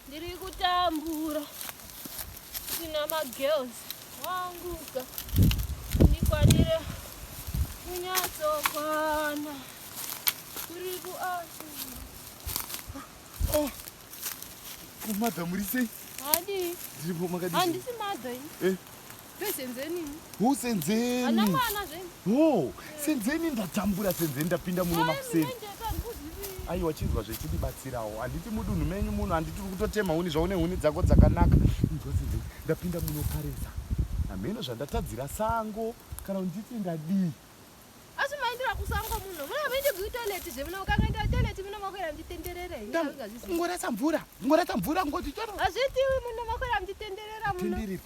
ndiri kutambura tina magirls wanguka ndikwanire kunyatsokwana kuri kuasi oh. kumadha muri sei handii ndiri pomakadii handisi madha ini eh. Senzeni. Hu senzeni. Ana mwana zve. Wo, senzeni ndatambura senzeni ndapinda muno makuseni. Aiwa chinzwa zvechidi batsirawo. Anditi mudunhu menyu muno anditi kutotema huni zvaune huni dzako dzakanaka. Inzwa senzeni ndapinda muno karesa. Hameno zvandatadzira sango kana unditi ndadii. Asi maindira kusango muno. Mwana maindi ku toilet zve muno ukangaenda ku toilet muno makwera mtitenderere. Ngorasa mvura. Ngorasa mvura ngoti choro. Azviti muno makwera mtitenderera muno. Tindiri.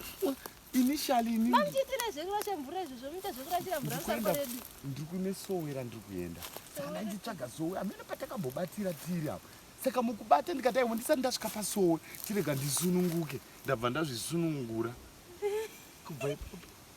Initially ni. Mamchitira zvekurasha mvura izvo zvomuita zvekurashira mvura musango redu. Ndiri kune sowe ra ndiri kuenda. Saka nditsvaga sowe. Amene patakabobatira tiri apo. Saka mukubata ndikati aiwa ndisati ndasvika pasowe. Tirega ndisununguke. Ndabva ndazvisunungura. Kubva ipapo.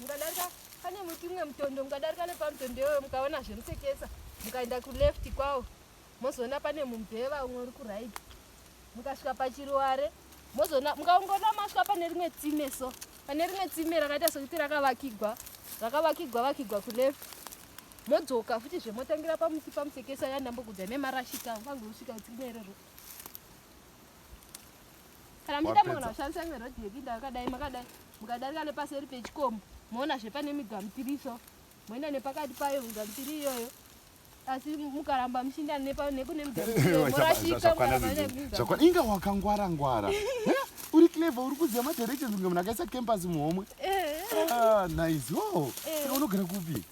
mukadarika pane muti umwe mutondo mukadarika nepamutondo iyoyo mukaona zvemusekesa mukaenda kuleft kwawo mozoona pane mumbeva umwe uri kurit mukasvika pachiruware mozoona mukaongona masvika pane rimwe tsime so pane rimwe tsime rakaita sokuti rakavakigwa rakavakigwa vakigwa kuleft modzoka futi zvemotangira pamuti pamusekesa yandambokudza nemarashika vange usvika tsime iroro kana muchida mwana kushandisa imwe rodhi yekuinda yakadai makadai mukadarika nepaseri pechikomo moona zvepane migamutiri iso moenda nepakati payo migamutiri iyoyo asi mukaramba muchiinda nekune migamutirizvakwana inga wakangwara ngwara uri clever uri kuziva madirections kunge munhu akaisa campus muhomwe eh. ah, nice o oh. eh. saka unogara kupi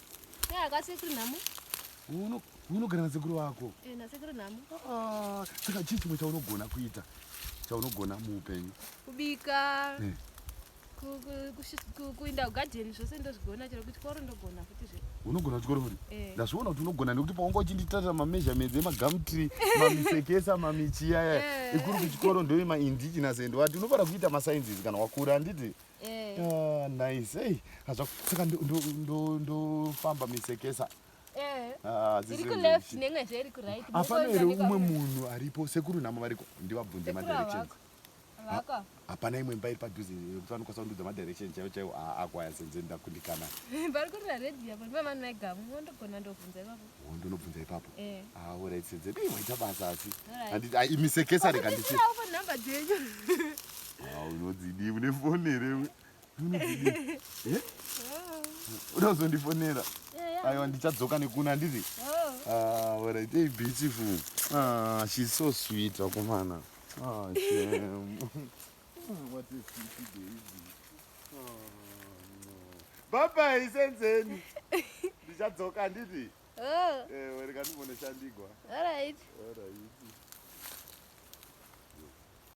eh, akasekuri nhamo unogara nasekuru vako eh, nasekuru nhamo ah, saka chii chimwe chaunogona kuita chaunogona muupenyu kubika eh. kuinda kugadheni zvose ndozvigona chero kuchikoro ndogona futi zve unogona kuchikoro futi eh. ndazviona kuti unogona nekuti paunga uchinditarira mameasurements emagamtri mamisekesa mamichiyaya ekuri kuchikoro ndoe maindigenous and wati unofara kuita masciences kana wakura handiti ah, nice ei saka ndofamba misekesa Eh. Ah, iri kuleft nemwe zve iri kuright hapana here umwe munhu aripo sekuru nhamo variko ndivabvunze madirections hapana imwe mba iri padhuze yekuti vanokwanisa kundudza madirection chaivo chaivo akwaya senze ndakundikana vari kurira redio apo ndipa vanhu vaigamu wondogona ndobvunza ipapo wondonobvunza ipapo eh. aurit ah, senze dei waita basa asi ah, imisekesa rega ndichi ah, unodzidivi nefoni here unozondifonera aiwa ndichadzoka nekuna ndiri orit ah, beautiful ah, she's so sweet vakomana ah, baba isenzeni ndichadzoka nditi ewe rikandimboneshandigwa